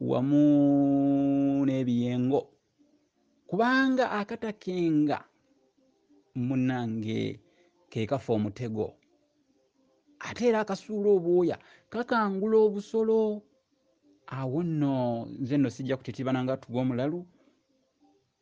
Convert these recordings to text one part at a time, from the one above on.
wamu n'ebiyengo kubanga akatakenga munange kekafa omutego ate era akasuula obwoya kakangula obusolo awo nno nze nno sijja kutitibana nga tuga omulalu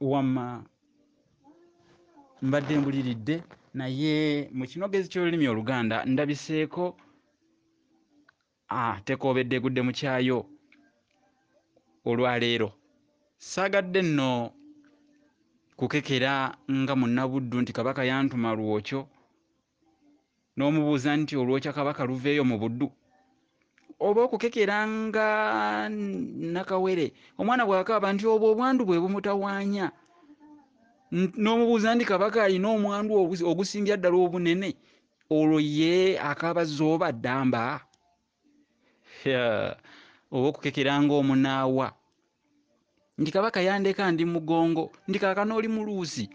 wama mbadde mbuliridde naye mu kinogezi ky'olulimi oluganda ndabiseeko ah, tekoobedde egudde mu kyayo olwaleero saagadde nno kukekera nga munnabuddu nti kabaka yantuma lwokyo n'omubuuza nti olwokya kabaka luveeyo mu buddu oba okukekera nga nakawere omwana bw'akaaba nti obwo obwandu bwe bumutawaanya n'omubuuza nti kabaka alina omwandu ogusingira ddala obunene olwo ye akaaba zooba ddamba oba okukekera nga omunaawa nti kabaka yandeka ndi mugongo nti kakana oli muluusi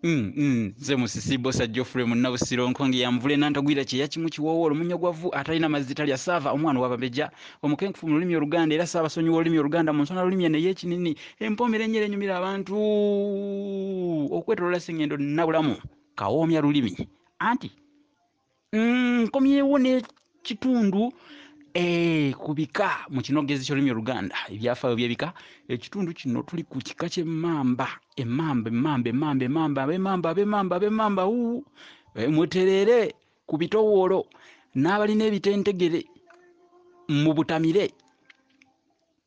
Mm, mm, nze musisi bosa geoffrey munnabusiro nkonge yanvule nantagwira kyeya kimu kiwoowo olumunyo gwa vvu atalina mazzi talya saava omwana wababeja omukenkufu mu lulimi oluganda era saabasonyiwa olulimi oluganda mu nsona lulimi eno ey'ekinini empoomera enyera enyumira abantu okwetolola sengendo nabulamu kawoomya lulimi anti Mm, nkomyewo n'ekitundu eh, ku bika mu kinogezi ky'olulimi oluganda ebyafaayo by'ebika ekitundu kino tuli ku kika ky'emmamba emmamba emmamba emmamba emmamba ab'emmamba ab'emmamba ab'emmamba uu Eh, mwetereere ku bitowoolo n'abalina ebitentegere mubutamire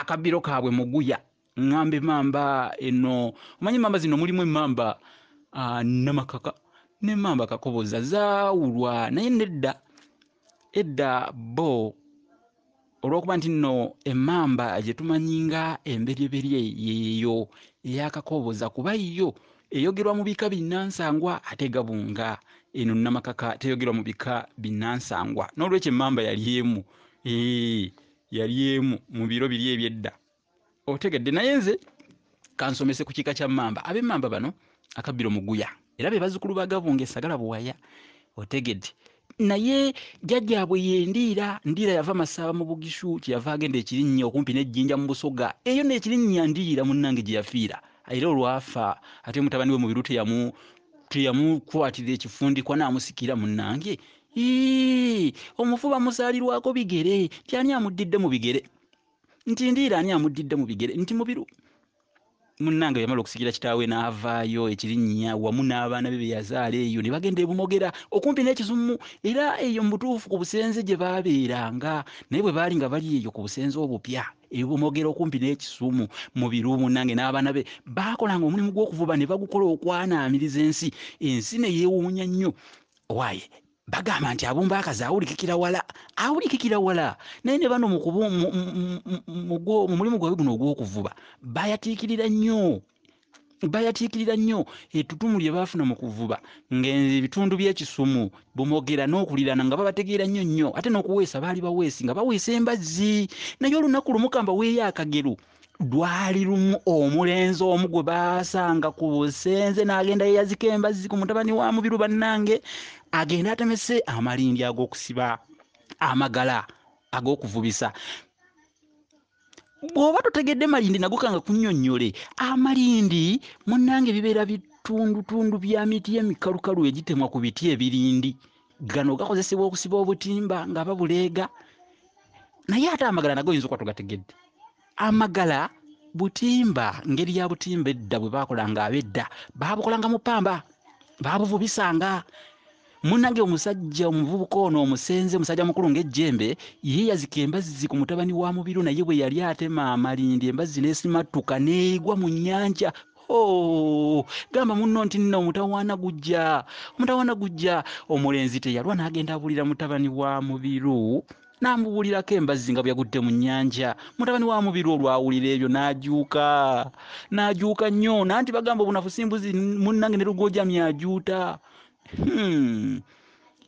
akabbiro kaabwe muguya ŋŋamba emamba eno omanyi emamba zino mulimu emamba ah, namakaka nemamba kakoboza zaawulwa naye nedda edda bo olwokuba nti nno emamba gye tumanyi nga emberyeberye yeeyo eyakakoboza kuba yo eyogerwa mu bika binnansangwa ate gabunga eno namakaka teyogerwa mu bika binnansangwa n'olwekyo emamba yali emu Eee, yali emu mu biro biri eby'edda otegedde naye nze kansomese ku kika kya mamba ab'emamba bano akabbiro muguya era be bazzukulu ba gabunga esagala buwaya otegedde naye jjajjaabwe yendiira ndiira yava masaaba mu bugishu kyeyava agenda ekirinnya okumpi n'ejjinja mu busoga eyo n'ekirinnya ndiira munnange gye yafiira era olwafa ate mutabani we mubiru teyamu teyamukwatira ekifundikwa n'amusikira munnange Yii! Omufu bamusaalirwako bigere nti ani amuddidde mu bigere nti ndiira ani amuddidde mu bigere nti mubiru munnange yamala okusikira kitaawe n'avaayo ekirinnya wamu n'abaana be be yazaala eyo ne bagenda e Bumogera okumpi n'ekizumu era eyo mu butuufu ku busenze gye baabeeranga naye bwe baali nga bali eyo ku busenze obupya e Bumogera okumpi n'ekisumu mu biru munnange n'abaana be baakolanga omulimu gw'okuvuba ne bagukola okwanaamiriza ensi ensi ne yeewuunya nnyo Why? bagamba nti abumba akazi awulikikira wala awulikikira wala naye ne bano mumulimu gwabwe guno ogw'okuvuba bayatiikirira nnyo bayatiikirira nnyo ettutumu lye baafuna mu kuvuba ng'ebitundu by'ekisumu bumogera n'okulirana nga babategeera nnyo nnyo ate n'okuweesa baali baweesi nga baweesa embazzi naye olunaku lumu kamba weeyo akagero lwali lumu omulenzi omu gwe baasanga ku busenze n'agenda yeyazika embazzi ku mutabani wa mubiru bannange agenda atemese amalindi ag'okusiba amagala ag'okuvubisa bw'oba totegedde malindi nago kanga kunyonnyole amalindi munnange bibeera bitundutundu bya miti emikalukalu egitemwa ku biti ebirindi gano gakozesebwa okusiba obutimba nga babuleega naye ate amagala nago oyinza okuba togategedde amagala butimba ngeri ya butimba edda bwe baakolanga abedda baabukolanga mu ppamba baabuvubisanga munange omusajja omuvubuka ono omusenze omusajja mukulu ngaejjembe ye yazika embazzi ku mutabani wa mubiru naye bwe yali atema amalindi embazzi nesimattuka neegwa mu nyanja Oh, gamba munno nti nno omutawaana gujja omutawaana gujja omulenzi teyalwa n'agenda abuulira mutabani wa mubiru n'amubuulirako embazzi nga bwe yagudde mu nnyanja mutabani wa mubiru olwawulira ebyo n'ajuuka n'ajuuka nnyo nanti bagamba obunafu simbuzi munnange ne lugojamya ajuuta hmm.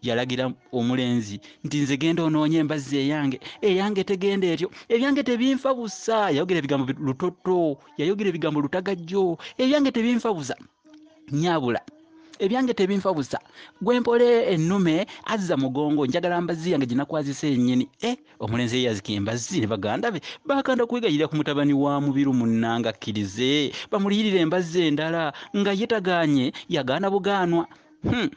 yalagira omulenzi nti nze genda onoonye embazzi eyange eyange tegenda etyo ebyange tebinfa busa yayogera ebigambo lutoto yayogera ebigambo lutagajjo ebyange tebinfa busa nyabula ebyange tebinfa busa gwempole ennume azza mugongo njagala mbazzi yange ginakwazisa enyini e eh, omulenzi eyazika embazzi ne baganda be bakanda kwegayirira ku mutabani wa mubiru munnanga akkirize bamuliyirira embazzi endala nga ye tagaanye yagaana bugaanwa hmm.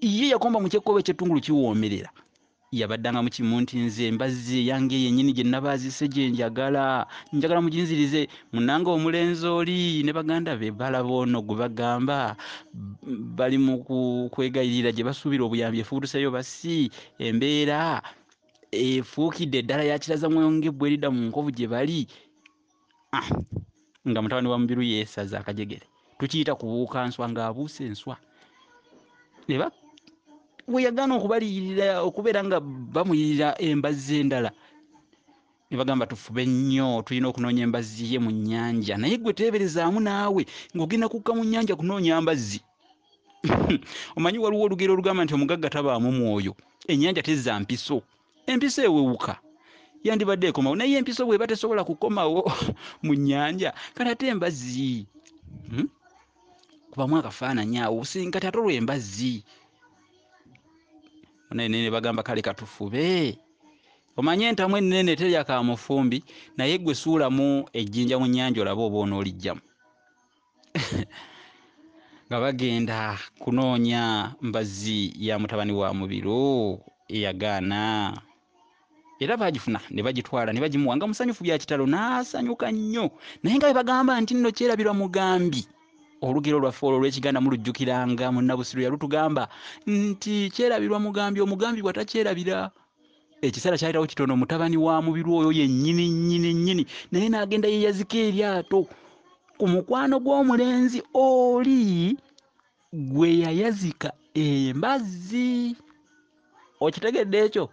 ye yakomba mu kyekkoba ekyettungulu kiwoomerera yabaddanga mu kimu nti nze mbazzi eyange yennyini gye nabaazise gye njagala njagala muginzirize munange omulenzi oli ne baganda be balaba ono gwe bagamba bali mu kwegayirira gye basuubira obuyambi efuutuseeyo basi embeera efuukidde eddala yakiraza mwonga ebbwa erida mu nkovu gye bali ah, nga mutabani wa mubiru yesaza akajegere tukiyita kubuuka nswa ng'abuusa enswa ne we yagaana okubaliyirira okubeera nga bamuyirira embazzi endala ne bagamba tufube nnyo tulina okunoonya embazzi ye mu nnyanja naye gwe teeberezaamu naawe ng'ogenda kukka mu nnyanja kunoonya mbazzi omanyi waliwo olugero olugamba nti omugagga tabaamu mwoyo ennyanja tezza mpiso empisa ewewuka yandibadde ekomawo naye empisa bweba tesobola kukomawo mu nyanja kati ate embazzi hmm? kubamu akafaananyi awo busingi kati ate olwembazzi naye nene bagamba kale katufube omanye entamu ennene terya ka mufumbi naye gwe suulamu ejjinja mu nnyanja olabe oba onoolijjamu nga bagenda kunoonya mbazzi ya mutabani wa mubiru eyagaana era baagifuna ne bagitwala ne bagimuwa nga musanyufu bya kitalo n'asanyuka nnyo naye nga bwe bagamba nti nno kyerabirwa mugambi olugero lwaffe olwo olw'ekiganda mulujjukiranga munnabusiru yalutugamba nti kyerabirwa mugambi omugambi bwatakyerabira ekiseera kyayitawo kitono mutabani wa mubiru oyo yennyini nnyini nnyini naye n'agenda yeyazika eryato ku mukwano gw'omulenzi oli gwe yayazika embazzi okitegedde ekyo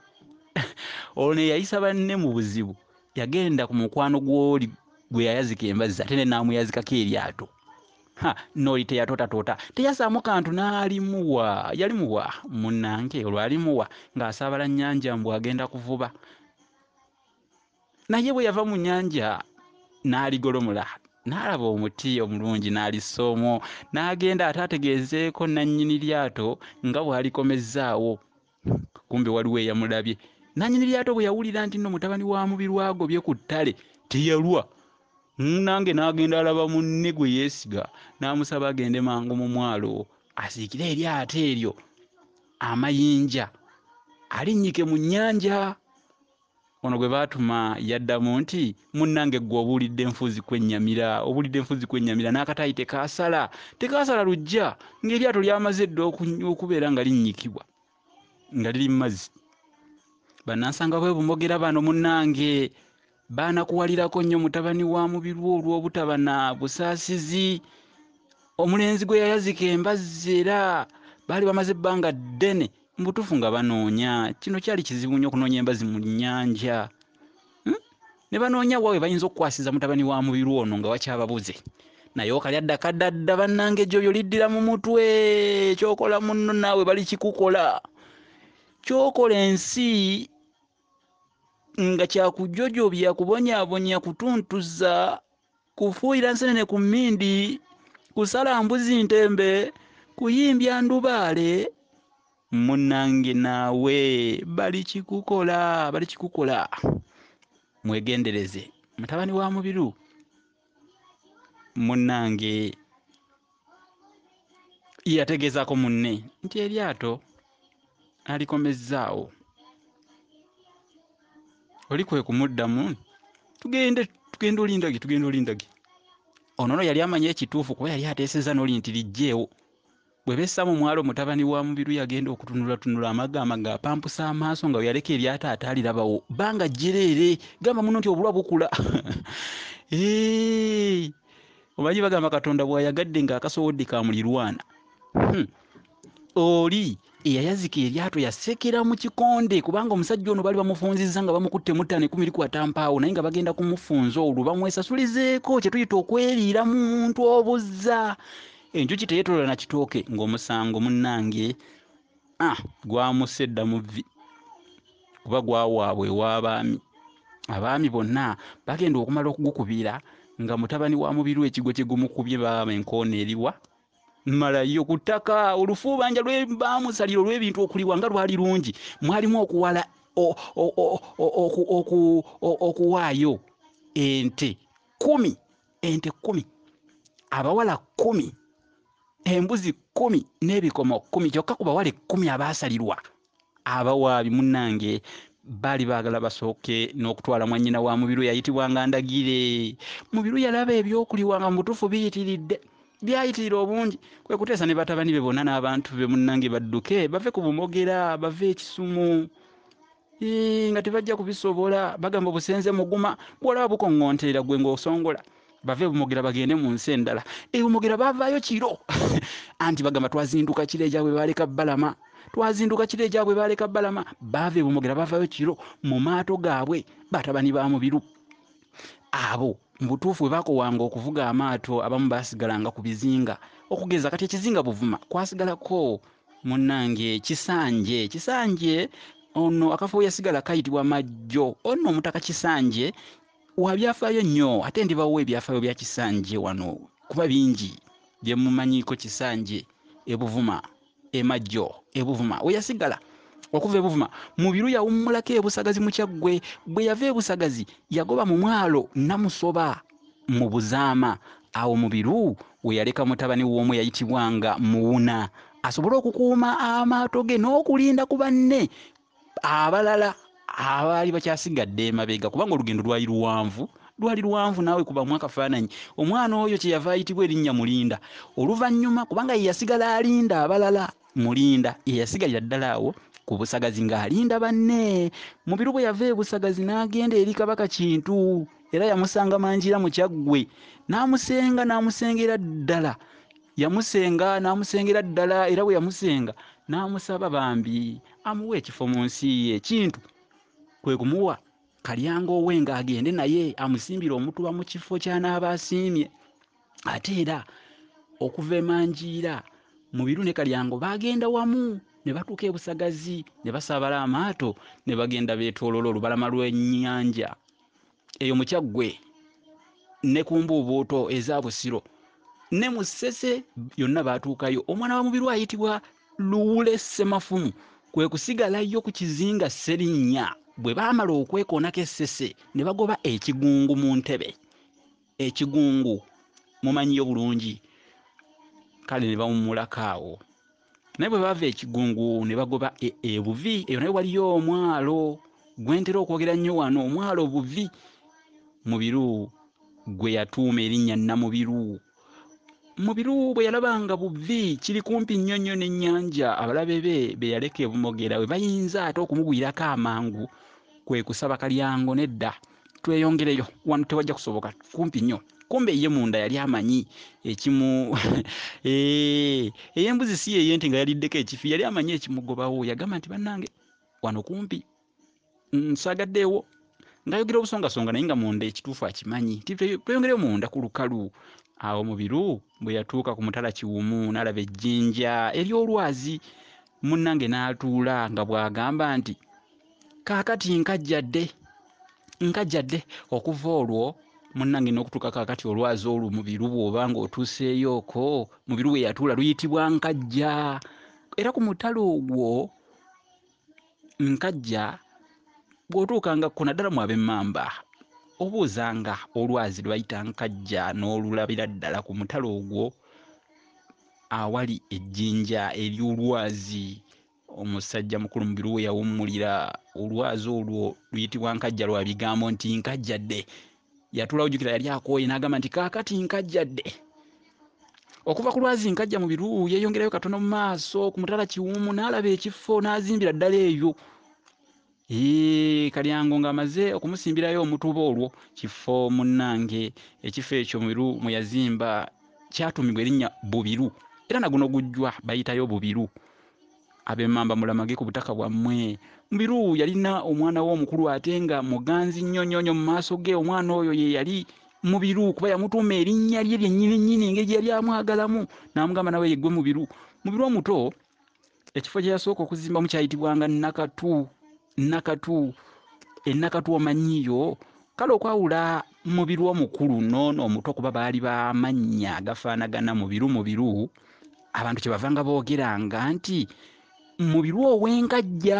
olwo neyayisa banne mu buzibu yagenda ku mukwano gw'oli gwe yayazika embazzi ate ne naamuyazikako eryato Ha, noli teyatootatoota teyasaamu kantu n'alimuwa yalimuwa munnange olwo alimuwa ng'asaabala nnyanja mbu agenda kuvuba naye bwe yava mu nnyanja n'aligolomola n'alaba omuti omulungi n'alissa omwo n'agenda ate ategeezeeko nannyini lyato nga bw'alikomezzaawo kumbe waliwo eyamulabye nanyini lyato bwe yawulira nti nno mutabani wa mubiru agobye ku ttale teyalwa nange n'agenda alaba munne gwe yeesiga n'amusaba agende mangu mu mwalo asiikire eryato eryo amayinja alinnyike mu nnyanja Ono gwe baatuma yaddamu nti, Munnange ggwe obuulidde nfuuzi kwennyamira, obuulidde nfuuzi kwennyamira, n'akataayi tekaasala, tekaasala luggya, ng'eryato lyamaze dda okubeera nga linnyikibwa, nga liri mu mazzi. Bannansanga b'e Bumogera bano munnange baanakuwalirako nnyo mutabani wa Mubirwa olw'obutaba na busaasizi. Omulenzi gwe yayazika embazzi era baali bamaze ebbanga ddene Mu butuufu nga banoonya, kino kyali kizibu nnyo okunoonya embazi mu nnyanja. Hmm? Ne banoonya wa we bayinza okukwasiza mutabani wa mubiru ono nga wakyababuze. Naye okalya dda kadda dda bannange gy'oyo liddira mu mutwe kyokola munno naawe bali kikukola. Kyokola ensi nga kyakujojobya kubonyabonya kutuntuza kufuuyira nsenene ku mmindi, kusala mbuzi ntembe, kuyimbya ndubaale, munnange naawe balikikukola balikikukola mwegendereze mutabani wa mubiru munnange yategeezaako munne nti eryato alikomezzaawo oli kwe kumuddamu tugende tugenda olindagi tugenda olindagi ono no yali amanyi ekituufu kuba yali ateeseza noli nti lijjeewo bwe bessa mu mwalo mutabani wa mubiru yagenda okutunulatunula amaga amaga apampusa amaaso nga weyaleka eryato ate alirabawo banga jjereere gamba muno nti obulwa bukula Omanyi bagamba Katonda bw'ayagadde ng'akasowodde ka mulirwana. Hmm. Oli eyayazika eryato yasekera mu kikonde kubanga omusajja ono bali bamufunzizza nga bamukutte muttaano ekumi likwata mpaawo naye nga bagenda kumufunza olwo bamwesasulizeeko kye tuyita okweriira mu muntu obuzza enjuki teyetolola na kitooke ng'omusango munnange ah, gwamusse dda mu vvi kuba gwawaabwe ew'abaami abaami bonna bagenda okumala okugukubira nga mutabani wa mubiru ekigo kye gumukubye baaba enkoona eriwa malayo ku ttaka olufuubanja lwe baamusalira olw'ebintu okuliwa nga lwali lungi mwalimu okuwala okuwaayo ente kumi ente kkumi abawala kkumi embuzi kkumi n'ebikomo kkumi kyokka ku bawala ekkumi abaasalirwa abawaabi munnange baali baagala basooke n'okutwala mwannyina wa mubiru eyayitibwanga ndagire mubiru yalaba ebyokuliwa nga mubutuufu biyitiridde byayitirira obungi kwe kuteesa ne batabani be bonna n'abantu be munnange badduke bave ku bumogera bave ekisumu Ii, nga tebajja kubisobola bagamba obusenze muguma bwolaba bukoŋŋonterera gwe ng'osongola bave bumogera bagende mu nsi endala ebumogera baavaayo kiro anti bagamba twazinduka kiro egyabwe baaleka balama twazinduka kiro egyabwe baaleka balama baava ebumogera baavaayo kiro mu maato gaabwe batabani ba mubiru abo mu butuufu bwe baakowanga okuvuga amaato abamu baasigalanga ku bizinga okugeza kati ekizinga buvuma kwasigalako Munange kisanje kisanje ono akafo yasigala kayitibwa majjo ono omutaka kisanje wabyafayo nnyo ate ndibawo ebyafayo bya kisanje wano kuba bingi byemumanyiko kisanje ebuvuma emajjo ebuvuma weyasigala okuva ebuvuma mubiru yawummulako ebusagazi mukyaggwe bweyava ebusagazi yagoba mu mwalo namusoba mu Buzaama, awo Mubiru we yaleka mutabani w'omu eyayitibwanga Muwuna asobole okukuuma amaato ge n'okulinda ku banne abalala abaali bakyasigadde emabega kubanga olugendo lwali luwanvu lwali luwanvu naawe kubamu akafaananyi omwana oyo kyeyava ayitibwa erinnya mulinda oluvannyuma kubanga ye yasigala alinda abalala Mulinda ye yasigalira ddala awo ku Busagazi ng'alinda banne. Mubiru bwe yava e Busagazi n'agenda eri Kabaka Kintu era yamusanga Mangira mu Kyaggwe n'amusenga n'amusengera ddala yamusenga n'amusengera ddala era bwe yamusenga n'amusaba bambi amuwe ekifo mu nsi ye Kintu kwe kumuwa Kalyango we ng'agende naye amusimbire omutuba mu kifo ky'anaaba asiimye. ate era okuva emanjiira mu biru ne kalyango baagenda wamu ne batuuka e busagazi ne basaabala amaato ne bagenda beetoolola olubalama lw'ennyanja eyo mu kyaggwe ne ku mbuubuuto eza busiro ne mu ssese yonna baatuukayo omwana wa mubiru ayitibwa luwule ssemafumu kwe kusigalayo ku kizinga sserinnya bwe baamala okwekoonako essese ne bagoba ekigungu mu ntebe ekigungu mumanyiyo bulungi kale ne bawummulako awo naye bwe baava ekigungu ne bagoba e, ebuvi e eyo naye waliyo omwalo gwentera okwogera nnyo wano omwalo obuvi mubiru gwe yatuuma erinnya namubiru mubiru bwe yalaba nga buvi kiri kumpi nnyo nnyo n'ennyanja abalabe be be yaleka ebumogera we bayinza ate okumugwirako amangu kwe kusaba kalyango nedda tweyongereyo wano tewajja kusoboka kumpi nnyo kumbe ye munda yali amanyi ekimu eh, eyembuzi si yeyente nga yaliddeko ekifi yali amanyi ekimugobawo yagamba nti bannange wano kumpi nsagaddeewo ngayogera obusongasonga naye nga munda ekituufu akimanyi ti tweyongereyo munda ku lukalu awo mubiru bwe yatuuka ku mutala kiwumu n'alaba ejjinja ery'olwazi munnange n'atuula nga bw'agamba nti kaakati nkajjadde nkajjadde okuva olwo munnange n'okutuuka kaakati olwazi olwo mu biru bw'oba ng'otuuseeyooko mu biru we yatuula luyitibwa nkajja era ku mutalo ogwo nkajja bw'otuukangakkona naddala mu ab'emmamba obuuzanga olwazi lwe bayita nkajja n'olulabira ddala ku mutalo ogwo awali ejjinja ery'olwazi Omusajja mukulu Mubiru we yawummulira olwazi olwo luyitibwa Nkajja lwa bigambo nti nkajjadde. Yatuulawo jjukira yali akooye n'agamba nti kaakati nkajjadde. Okuva ku lwazi Nkajja Mubiru yeeyongerayo katono mu maaso ku mutala Kiwumu n'alaba ekifo n'azimbira ddala eyo. Eeh, Kalyango ng'amaze okumusimbirayo omutuba olwo kifo munnange. Ekifo ekyo Mubiru mwe yazimba kyatuumibwa erinnya Bubiru era na guno gujwa bayitayo Bubiru. Ab'Emmamba mulamage ku butaka bwammwe. Mubiru yalina omwana we omukulu ate nga muganzi nnyo nnyo nnyo mu maaso ge. Omwana oyo ye yali Mubiru kuba yamutuuma erinnya lye lyennyini nnyini engeri gye yali amwagalamu n'amugamba nawe yeggwe Mubiru. Mubiru omuto. ekifo kye yasooka okuzimbamu kyayitibwanga nakatu nakatu enakatu omanyiyo kale okwawula mubiru omukulu noono omuto kuba baali bamannya agafaanagana mubiru mubiru abantu kyebavanga boogeranga nti mubiru ow'enkajja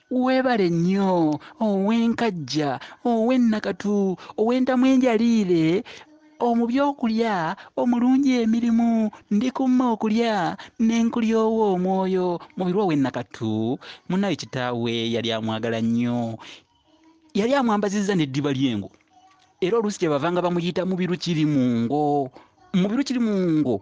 Weebale nnyo Owenkajja, ow'e Nakatu, ow'entamu enjaliire, omu by'okulya, omulungi emirimu, ndi ku mma okulya ne nkulya ow'omwoyo, Mubiru ow'e Nakatu. Munnaaye kitaawe yali amwagala nnyo. Yali amwambazizza n'eddiba ly'engo era oluusi kye bavanga bamuyita Mubiru Kirimungo. Mubiru Kirimungo.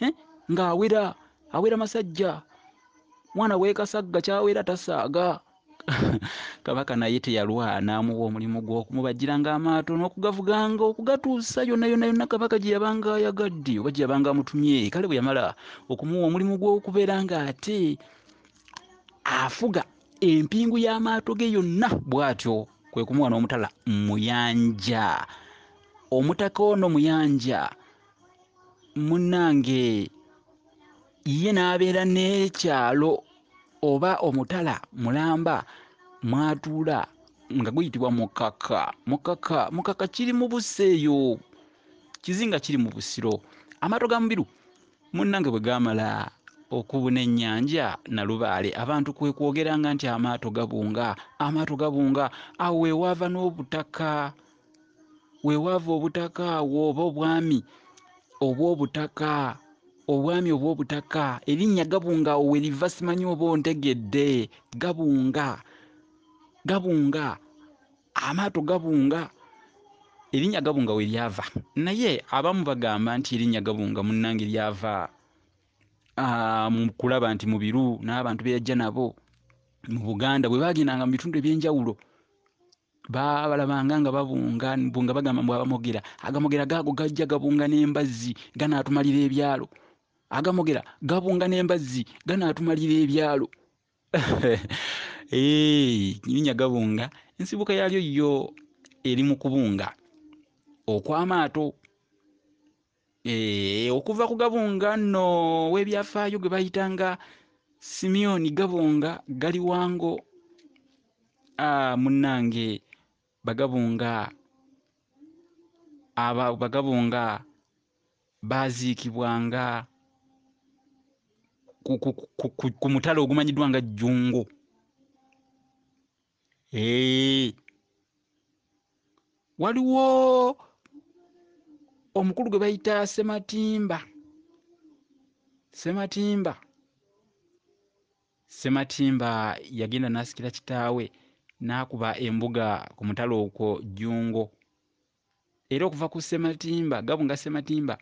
eh? ng'awera awera masajja mwana wekasagga kyawera tasaaga kabaka naye teyalwana amuwa omulimu gw'okumubajjiranga amaato n'okugavuganga okugatuusa yonna yonna yonna kabaka gye yabanga ayagadde oba gye yabanga amutumye kale bwe yamala okumuwa omulimu gw'okubeera ng'ate afuga empingu y'amaato ge yonna bw'atyo kwe kumuwa n'omutala muyanja omutaka ono muyanja munnange ye n'abeera n'ekyalo oba omutala mulamba mw'atuula nga guyitibwa mukaka mukaka mukaka kiri mu busa eyo kizinga kiri mu busiro amaato ga mubiru munnange bwe gaamala okubuna ennyanja nalubaale abantu kwe kwogeranga nti amaato gabunga amaato gabunga awo we waava n'obutaka wewaava obutaka awo oba obwami obw'obutaka obwami obw'obutaka erinnya gabunga awo weriva simanyi oba ontegedde gabunga gabunga amaato gabunga erinnya gabunga we lyava naye abamu bagamba nti erinnya gabunga munnange lyava ah, mu kulaba nti mu biru n'abantu be yajja nabo mu buganda bwe bagendanga mu bitundu eby'enjawulo baabalabanga nga babunga mbu nga bagamba mbu abamogera agamogera gaago gajja gabunga n'embazzi ganaatumalira ebyalo agamogera gabunga n'embazzi ganaatumalira ebyalo nyirinya gabunga ensibuka yaalyo yo eri mu kubunga okw'amaato Eh, okuva ku gabunga nno w'ebyafaayo gwe bayitanga simyoni gabunga gali wango ah, munnange bagabunga aba bagabunga baaziikibwanga ku, ku, ku, ku, ku mutala ogumanyiddwa nga jjungu Eeii. Waliwo omukulu gwe bayita Sematimba. Sematimba. Sematimba yagenda n'asikira kitaawe n'akuba embuga ku mutala okwo Jjungo. era okuva ku Ssematimba Gabunga Ssematimba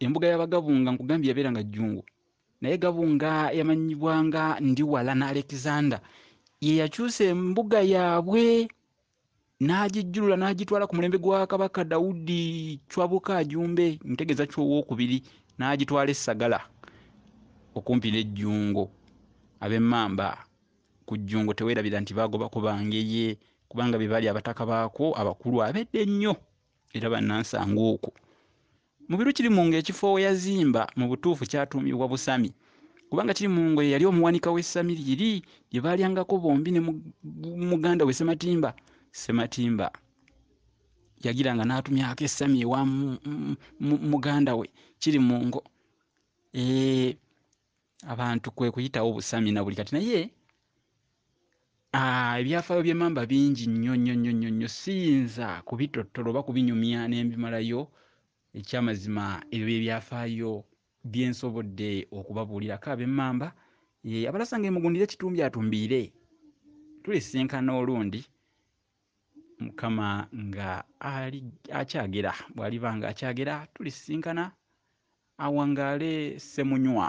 embuga y'Abagabunga nkugambye yabeeranga Jjungu naye Gabunga yamanyibwanga Ndiwala na Alexander ye yakyusa embuga yaabwe n'agijjulula n'agitwala ku mulembe gwa Kabaka Daudi Chwabuka Ajumbe ntegeeza Chwa owookubiri n'agitwala e Sagala okumpi ne Jjungo ab'Emmamba Ku Jjungo teweerabira nti baagobako Bangeye kubanga be baali abataka baakwo abakulu ab'edda ennyo era bannansangwa okwo. Mubiru Kirimungo ekifo we yazimba mu butuufu kyatuumibwa Busami kubanga Kirimungo ye yali omuwanika w'essami liri lye baalyangako bombi ne muganda we Ssematimba. Ssematimba yagiranga n'atumyako essami ewa muganda we Kirimungo. Eeh abantu kwe kuyitawo busami na buli kati naye ah, ebyafaayo by'emamba bingi nnyo nnyo nnyo nnyo nnyo siyinza kubitottola oba kubinyumya ne mbimalayo ekyamazima ebyo byebyafaayo bye nsobodde okubabuulirako ab'emmamba eh, abalasa nga emugundira ekitumbi atumbiire tulisinkana olundi mukama nga akyagera bw'aliba nga akyagera tulisinkana awangaale ssemunywa